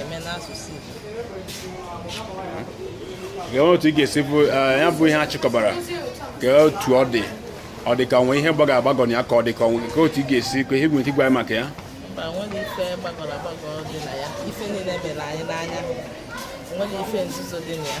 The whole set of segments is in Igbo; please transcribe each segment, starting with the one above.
eme n'asụsụ Igbo otu ị ga-esi bụ eh, ya bụ ihe a chịkọbara kee otu ọ dị ọ dị ka o nwe ihe gbagọrọ agbagọ na ya ka ọ dị ka o nwe nke otu ị ga-esi kee ihe i nwere ike ịgwa maka ya mba enwerọ ife gbagọrọ agbagọ dị na ya ife niile mere anyị n'anya enwerọ ife nzuzo dị na ya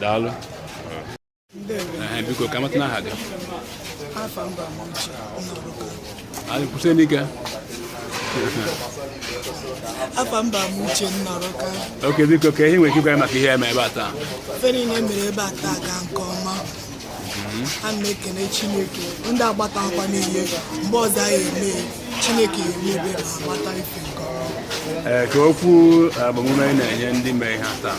daalụ biko ka m matụnụ aha gị anyị kwụsị n'ike afa m bụ amuche nnọrọka okay biko kee ihe i nwere ike ịgwa maka ihe e mere ebe a taa ife niile mere ebe a taa gaa nke ọma mhm. a na-ekene chineke ndị agbata akwa niile mgbe ọzọ anyị eme chineke ya emebe ma agbata ife nke ọma ee eh, kee okwu eh, agbamume ị na-enye ndị mee ihe a taa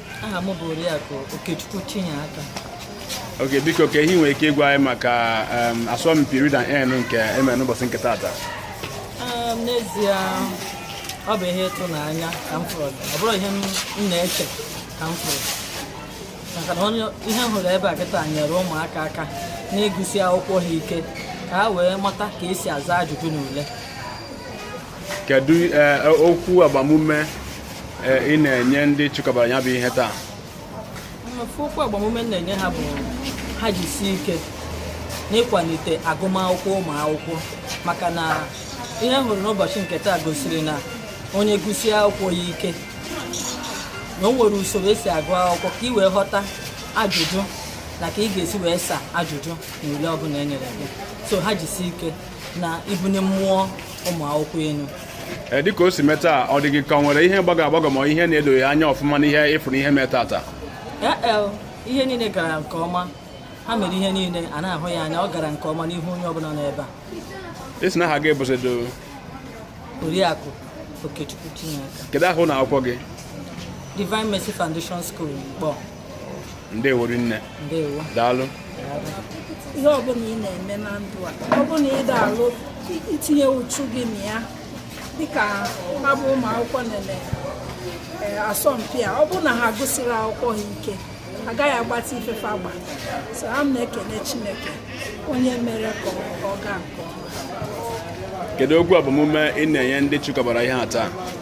aha m bụ oriakụ okechukwu chinyeaka okay biko kee ihe i nwere ike ịgwa anyị maka asọmpi read and earn nke e mere n'ụbọchị nke taata n'ezie ọ bụ ihe ịtụnanya ka m fụrụ ọ bụrọ ihe m na-eche ka m fụrụ maka na ihe m hụrụ ebe a kịta nyere ụmụaka aka na ịgụsi akwụkwọ ha ike ka ha wee mata ka e si aza ajụjụ n'ule kedu eh, okwu agbamume eh, ị na-enye ndị chịkọbara ya bụ ihe taa mmefu okwu agbamume m na-enye ha bụ ha jisie ike n'ịkwalite agụmakwụkwọ ụmụ akwụkwọ maka na ihe m hụrụ n'ụbọchị nke taa gosiri na onye gụsie akwụkwọ ya ike na o nwere usoro e si agụ akwụkwọ ka ị wee ghọta ajụjụ na ka ị ga-esi wee saa ajụjụ n'ule ọbụla e nyere gị so ha jisie ike na ibunye mmụọ ụmụ akwụkwọ elu ee dịka o si mee taa ọ dị gị ka o nwere ihe gbagọrọ agbagọ ma ihe na-edoghị anya ọfụma n'ihe ị fụrụ e mee taata ee ihe niile gara nke ọma ha mere ihe niile a na-ahụ ya anya ọ gara nke ọma n'ihu onye ọbụla nọ ebe a ị sị na aha gị bụzido oriakụ okechukwu chinyeaka kedu aha ụlọ akwụkwọ gị Divine Mercy Foundation School Nkpor ndewo rinne daalụ ihe ọbụla ị na-eme na ndụ a ọ bụla ị ga-alụ i tinye uchu gị na ya dịka ha bụ ụmụ akwụkwọ na-eme eh, asọmpi a ọ bụrụ na ha agụsirọ akwụkwọ ha ike agaghị agbata ife fa gbalụ so a na-ekene Chineke onye mere ka ọ gaa nke ọma kedu okwu agbamume ị na-enye ndị chịkọbara ihe a taa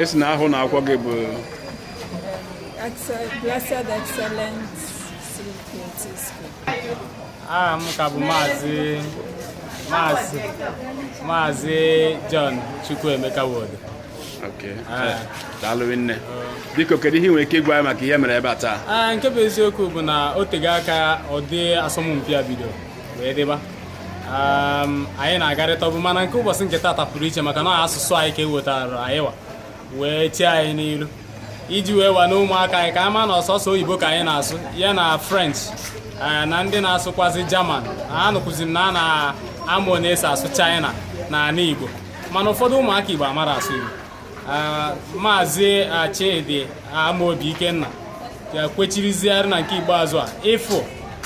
ị sị na aha ụnọ akwụkwọ gị bụ Blessed Excellent aha m ka bụ maazị maazị maazị John Chukwuemeka Wodo okay. daalụ nne biko kedu ihe i nwere ike ịgwa anyị maka ihe e mere ebe a taa ah, nke bụ eziokwu bụ na o tego aka ụdị asọmpi a bidoro wee dịba anyị na-agarịta ọbụ mana nke ụbọchị nke taata pụrụ iche maka na asụsụ anyị ka ewetara anyị wa wee chee anyị n'iru iji wee wa na ụmụaka anyị ka a ma na ọ sọsọ oyibo ka anyị na-asụ ya na french na ndị na-asụkwazi german anụkwuzi m na a na-amụ one esi asụ china na ala igbo mana ụfọdụ ụmụaka igbo amarọ asụ igbo maazị Chidi Amaobi Ikenna ya kwechiriziarị na nke ikpeazụ a ịfụ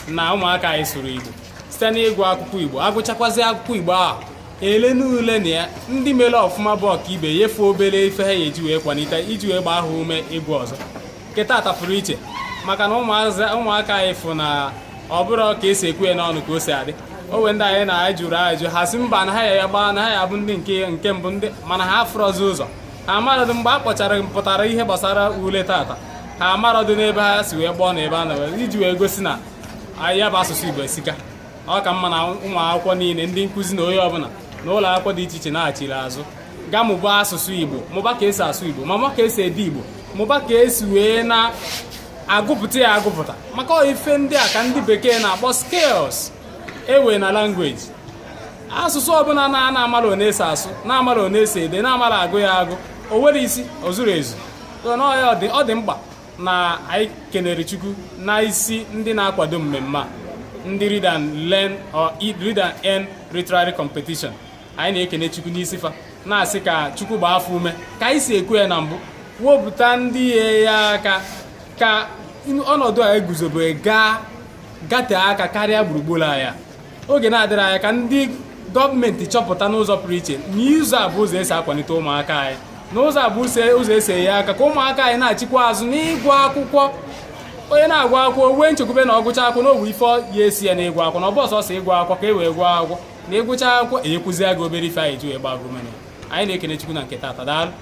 na ụmụaka anyị sụrụ Igbo site n'ịgụ akwụkwọ Igbo agụchakwazi akwụkwọ Igbo ahụ ele n'ule na ya ndị mere ọfụma bụ ọkaibe nye fa obere ife ha ya-eji wee kwalite iji wee gbaa ha ume ịgụ ọzọ nke taata pụrụ iche maka na ụmụaka anyị fụ na ọ bụrọ ka esi ekwu ya n'ọnụ ka o si adị o nwe ndị anyị na anyị jụrụ ajụ ha sị mba na ha ya-agba na ha ya-abụ ndị nke nke mbụ ndị mana ha afụrọzi ụzọ ha amarọdụ mgbe a kpọchara pụtara ihe gbasara ule taata ha amarọdụ n'ebe ha si wee gbọọ na ebe a na iji wee gosi na ya bụ asụsụ Igbo esika ọ ka mma na ụmụ akwụkwọ niile ndị nkụzi na onye ọbụla na ụlọ akwụkwọ dị iche iche nachiri azụ gaa mụba asụsụ Igbo mụba ka esi asụ Igbo ma mụba ka esi ede Igbo mụba ka esi wee na-agụpụta ya agụpụta maka ife ndị a ka ndị bekee na-akpọ skills enwe na language asụsụ ọbụla na a na-amara one esi asụ na-amara one esi ede na-amara agụ ya agụ o nwere isi o zuru ezu ọ dị mkpa na anyị kenere Chukwu na isi ndị na-akwado mmemme a ndị read and learn or read and earn literary competition anyị na-ekene chukwu n'isi fa na-asị ka chukwu gbaa fa ume ka anyị si ekwu ya na mbụ wepụta ndị ya-enye aka ka ọnọdụ a eguzobe gatee aka karịa gburugburu anyị a oge na-adịrọ anya ka ndị gọọmenti chọpụta n'ụzọ pụrụ iche na ụzọ a bụ ụzọ esi akwalite ụmụaka anyị n'ụzọ a bụ ụzọ esi enye aka ka ụmụaka anyị nachikwaa azụ n'ịgụ akwụkwọ onye na-agụ akwụkwọ nwee nchekwube na ọ gụchaa akwụkwọ na o nwe ife ya-esi ya na ịgụ akwụkwọ na ọ bụrọ sọsọ ịgụ akwụkwọ ka e wee gụọ akwụkwọ na ịgụcha akwụkwọ enyekwuzie gị obere ife anyị ji wee gbaa gị ume anyị na-ekene chukwu na nke taata daalụ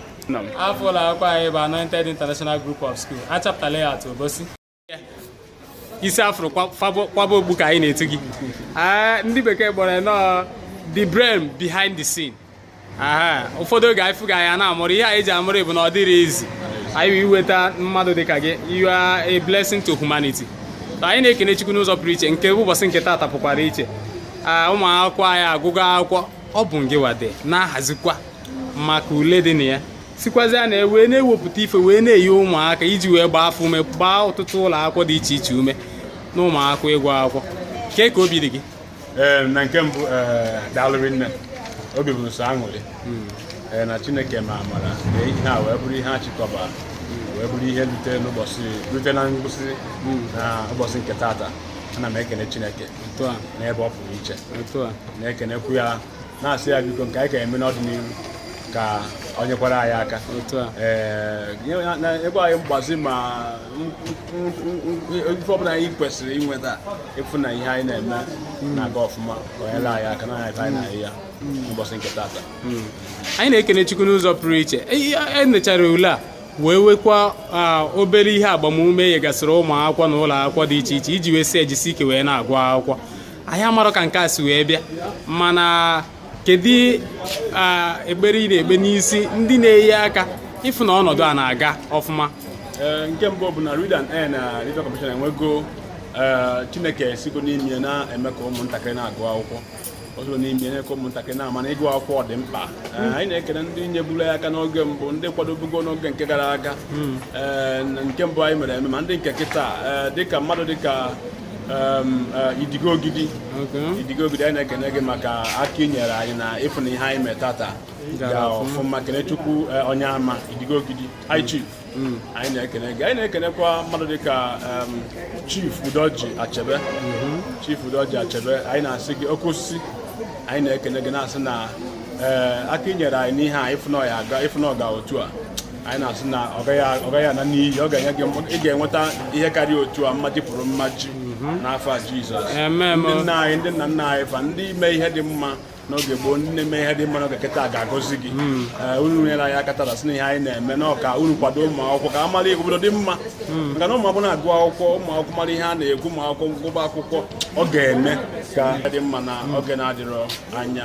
afọ ụlọ akwụkwọ anyị bụ Anointed International Group of School Achaputa Layout Obosi isi a fụrụ kwaba okpu ka anyị na-etu gị ah, ndị bekee kpọrọ nnọọ the brain behind the scene ụfọdụ oge anyị fụ gị anyị na-aṅụrị ihe anyị ji aṅụrị bụ na ọ dịrọ easy anyị inweta mmadụ dịka gị you are a blessing to humanity anyị na-ekene Chukwu n'ụzọ pụrụ iche nke ụbọchị nke taata pụkwara iche ụmụ akwụkwọ anyị agụgo akwụkwọ ọ bụ ngịwa de na-ahazikwa maka ule dị na ya sikwazia na wee na-ewepụta ife wee na-enye ụmụaka iji wee gbaa fa ume gbaa ọtụtụ ụlọ akwụkwọ dị iche iche ume na ụmụakwụkwọ ịgụ akwụkwọ kee ka obi dị gị ee na nke mbụ ee daalụ rinne obi bụ m sọ aṅụrị ee na chineke mee amara na ihe a wee bụrụ ihe a chịkọba wee bụrụ ihe rute n'ụbọchị rute na ngwụsị na ụbọchị nke tata ana m ekene chineke otu a n'ebe ọ pụrụ iche otu a na-ekenekwu ya na-asị ya biko nke anyị ka eme n'ọdịnihu ka ọ nyekwara anyị aka otu a ee nye- na- na- ebe anyị mgbazi ma m- m- m- m- ife ọbụla anyị kwesịrị inweta ịfụ na ihe anyị na-eme na-aga ọfụma ka o nyere anyị aka na anyị anyị na-ahụ ya n'ụbọchị nke tata anyị na-ekene chukwu n'ụzọ pụrụ iche e nechara ule a wee wekwa ah, obere ihe agbamume nyegasịrị ụmụ akwụkwọ na ụlọ akwụkwọ dị iche iche iji wee sị e jisie ike wee na-agụ akwụkwọ anyị amarọ ka nke a si wee bịa mana kedu ekpere ị na-ekpe n'isi ndị na-enye aka ịfụ na ọnọdụ a na-aga ọfụma nke mbụ bụ na Read and Earn na Life Commission enwego Chineke sigo n'ime ya na-eme ka ụmụntakịrị na-agụ akwụkwọ o sigo n'ime ya eme ka ụmụntakịrị na-ama na ịgụ akwụkwọ dị mkpa hmm. anyị na-ekene ndị nyeburu aka n'oge mbụ ndị kwadobugo n'oge nke gara aga hmm. nke mbụ anyị mere eme ma ndị nke kịta dịka mmadụ dịka Um, uh, idigo ogidi idigo ogidi anyị na-ekene gị maka aka i nyere anyị na ịfụ na ihe anyị mee tata ga ọfụma kenechukwu uh, onyeama idigo ogidi high mm. chief mm. anyị na-ekene gị anyị na-ekenekwa mmadụ dịka um, chief udoji achebe mm-hmm. chief udoji achebe anyị na-asị gị oke osisi anyị na-ekene gị na-asị na uh, aka i nyere anyị n'ihe a ịfụ na ọ ga otu a anyị na-asị na ọ gaghị ana n'iyi ọ ga-enye gị ị ga-enweta ihe karịa otu a mmaji kwuru mmaji mhm. n'afa Jizọs ndị nna anyị ndị nna nna anyị fa ndị mee ihe dị mma n'oge gboo ndị na-eme ihe dị mma n'oge kịta ga-agọzi gị mhm. eh, unu nyere anyị aka tata sị na ihe anyị na-eme na ọ ka unu kwado ụmụ akwụkwọ ka a mara obodo dị mma mhm. maka na ụmụ akwụkwọ na-agụ akwụkwọ ụmụ akwụkwọ mara ihe a na-ekwu ụmụ akwụkwọ gụba akwụkwọ ọ ga-eme ka dị mma na oge na-adịrọ anya